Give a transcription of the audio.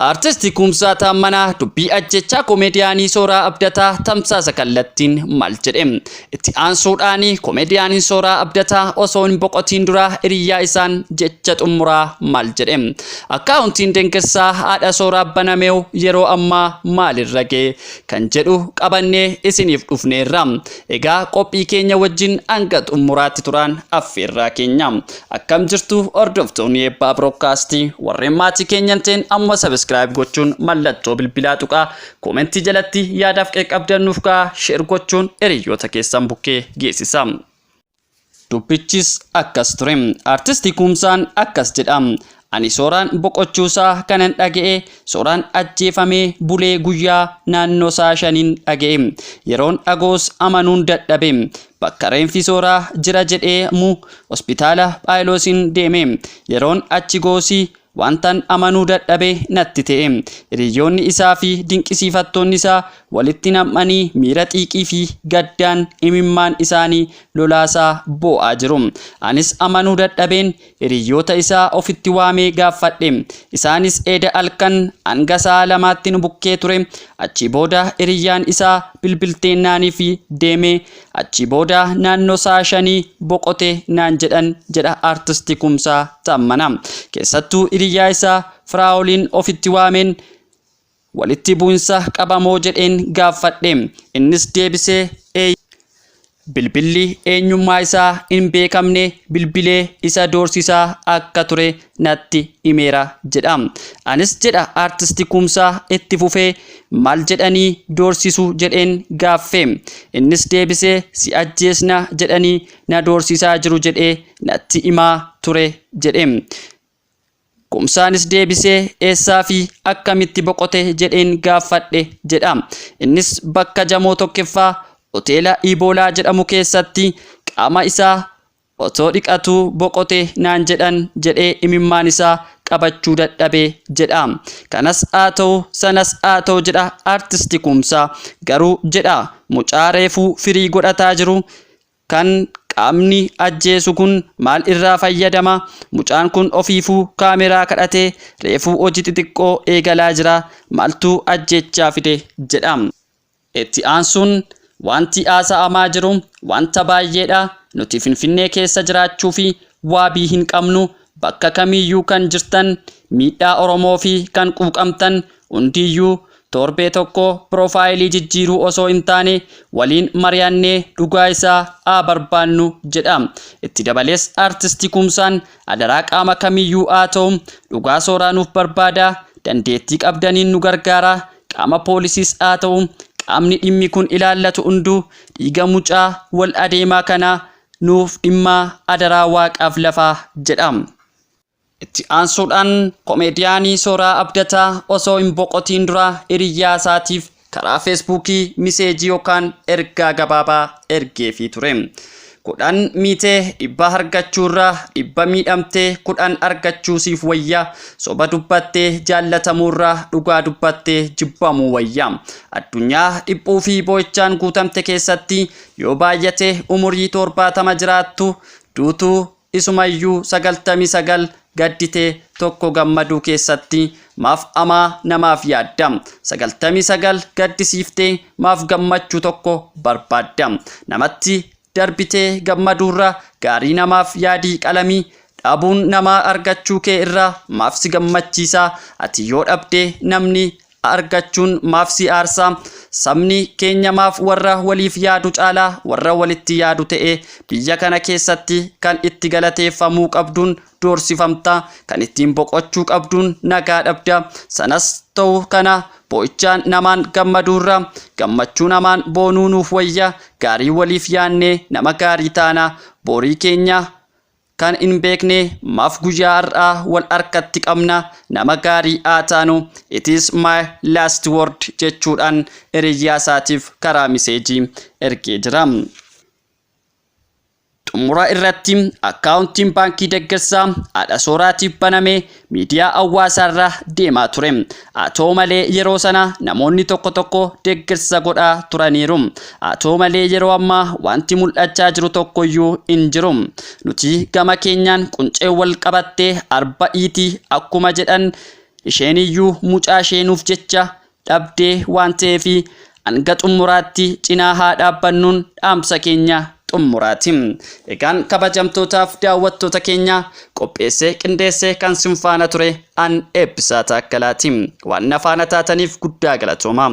Artisti Kumsaa Taammanaa dubbii ajjechaa komeediyaanii Sooraa Abdataa tamsaasa kallattiin maal jedhe? Itti aansuudhaan komeediyaaniin Sooraa Abdataa osoo hin boqotiin dura hiriyaa isaan jecha xumuraa maal jedhe? Akkaawuntiin Dengessaa haadha Sooraa banameew yeroo ammaa maalirra ga'e? Kan jedhu qabannee isiniif dhufneerra. Egaa qophii keenya wajjin hanga xumuraatti turaan affeerraa keenya. Akkam jirtu hordoftoonni eebbaa broodkaastii warreen maatii keenya hin ta'in amma sabiskiraayib gochuun mallattoo bilbilaa tuqaa koomentii jalatti yaadaaf qeeqabdan nuuf ka'a sheer gochuun hiriyoota keessan bukkee geessisa. Dubbichis akkas ture. Artisti Kumsaan akkas jedha. Ani Sooraan boqochuusaa kanan dhaga'e Sooraan ajjeefamee bulee guyyaa naannoo sa'a shaniin dhaga'e. Yeroon dhagoos amanuun dadhabe. Bakka reenfi Sooraa jira jedhee mu hospitaala Phaayiloosiin deeme. Yeroon achi go'usi wantan amanuu dadhabe natti ta'e. Hiriyyoonni isaa fi dinqisiifattoonni isaa walitti nam'anii miira xiiqii fi gaddaan imimmaan isaanii lolaasaa boo'aa jiru. Anis amanuu dadhabeen Hiriyyoota isaa ofitti waamee gaaffadhe. Isaanis eeda alkan hanga sa'a lamaatti nu bukkee ture. Achii booda hiriyyaan isaa bilbiltee naanifi deeme. Achii booda naannoo sa'a shanii boqote naan jedhan jedha Artisti Kumsaa Taammanaa. Keessattuu hiriyyaa isaa Firaa'oliin ofitti waameen Walitti bu'insa qaba moo jedheen gaaffadhe. Innis deebisee eeyyee jedhe. Bilbilli eenyummaa isaa hin beekamne bilbilee isa doorsisaa akka ture natti himeera jedha. Anis jedha Artisti Kumsaa itti fufee maal jedhanii doorsisu jedheen gaaffe. Innis deebisee si ajjeesna jedhanii na doorsisaa jiru jedhee natti himaa ture jedhe. Kumsaanis deebisee eessaa fi akkamitti boqote jedheen gaaffadhe jedha. Innis bakka Jamoo tokkeffaa hoteela Iiboolaa jedhamu keessatti qaama isaa otoo dhiqatuu boqote naan jedhan jedhee imimmaan isaa qabachuu dadhabe jedha. Kanas haa ta'u sanas haa ta'u jedha Artisti Kumsaa. Garuu jedha mucaa reefuu firii godhataa jiru Kan qaamni ajjeesu kun maal irraa fayyadama? Mucaan kun ofiifuu kaameraa kadhatee reefuu hojii xixiqqoo eegalaa jira. Maaltu ajjeechaa fide? jedha. Itti aansuun, Waanti haasa'amaa jiru waanta baay'eedha. Nuti Finfinnee keessa jiraachuufi waabii hin qabnu. Bakka kamiiyyuu kan jirtan, miidhaa Oromoofi kan quuqamtan hundiyyuu Torbee tokko piroofaayilii jijjiiruu osoo hin taane waliin mari'annee dhugaa isaa haa barbaannu jedha. Itti dabalees Artisti Kumsaan adaraa qaama kamiyyuu haa ta'u dhugaa sooraa nuuf barbaadaa, dandeettii qabdaniin nu gargaaraa, qaama poolisiis haa ta'u qaamni dhimmi kun ilaallatu hunduu dhiiga mucaa wal adeemaa kanaa nuuf dhimmaa adaraa waaqaaf lafaa jedha. Itti aansuudhaan komeediyaanii Sooraa Abdataa osoo hin boqotiin dura hiriyyaa isaatiif karaa Feesbuukii miseejii yookaan ergaa gabaabaa ergeefii ture. Kudhan miite dhibba hargachuu irra dhibba miidhamtee kudhan argachuu siif wayya, soba dubbattee jaallatamuu irra dhugaa dubbattee jibbamuu wayya. Addunyaa dhiphuu fi boo'ichaan guutamte keessatti yoo baay'ate umurii toorbaatama jiraattu, duutu Isumayyuu 99 gaddite tokko gammaduu keessatti maaf amaa namaaf yaadda? 99 gaddisiiftee maaf gammachuu tokko barbaadda? Namatti darbitee gammaduurra gaarii namaaf yaadii qalamii dhabuun namaa argachuu kee irraa maaf si gammachiisa? Ati yoo dhabde namni argachuun maaf si aarsa? Sabni keenya maaf warra waliif yaadu caalaa warra walitti yaadu ta'e? Biyya kana keessatti kan itti galateeffamuu qabduun doorsifamta, kan ittiin boqochuu qabduun nagaa dhabda. Sanas ta'u kana boo'ichaan namaan gammaduurra gammachuu namaan boonuu nuuf wayya, gaarii waliif yaannee nama gaarii taana, borii keenya Kan hin beekne maaf guyyaa har'aa wal harkatti qabna nama gaarii haa taanu it is my last word jechuudhaan hiriyyaa isaatiif karaa miseejii ergee jira. Xumura irratti akkaawuntiin baankii deggersaa haadha sooraatiif baname miidiyaa hawwaasaarra deemaa ture. Haa ta'u malee yeroo sana namoonni tokko tokko deeggarsa godhaa turaniiru. Haa ta'u malee yeroo ammaa wanti mul'achaa jiru tokkoyyuu hin jiru. Nuti gama keenyaan quncee wal qabattee arba iiti akkuma jedhan isheeniyyuu mucaa ishee nuuf jecha dhabdee waan ta'eef hanga xummuraatti cinaa haa dhaabbannuun dhaamsa keenya xummuraati. Egaan kabajamtootaaf daawwattoota keenya qopheessee qindeessee kan sin faana ture an Eebbisaa Taakkalaati. Waan na faana taataniif guddaa galatoomaa.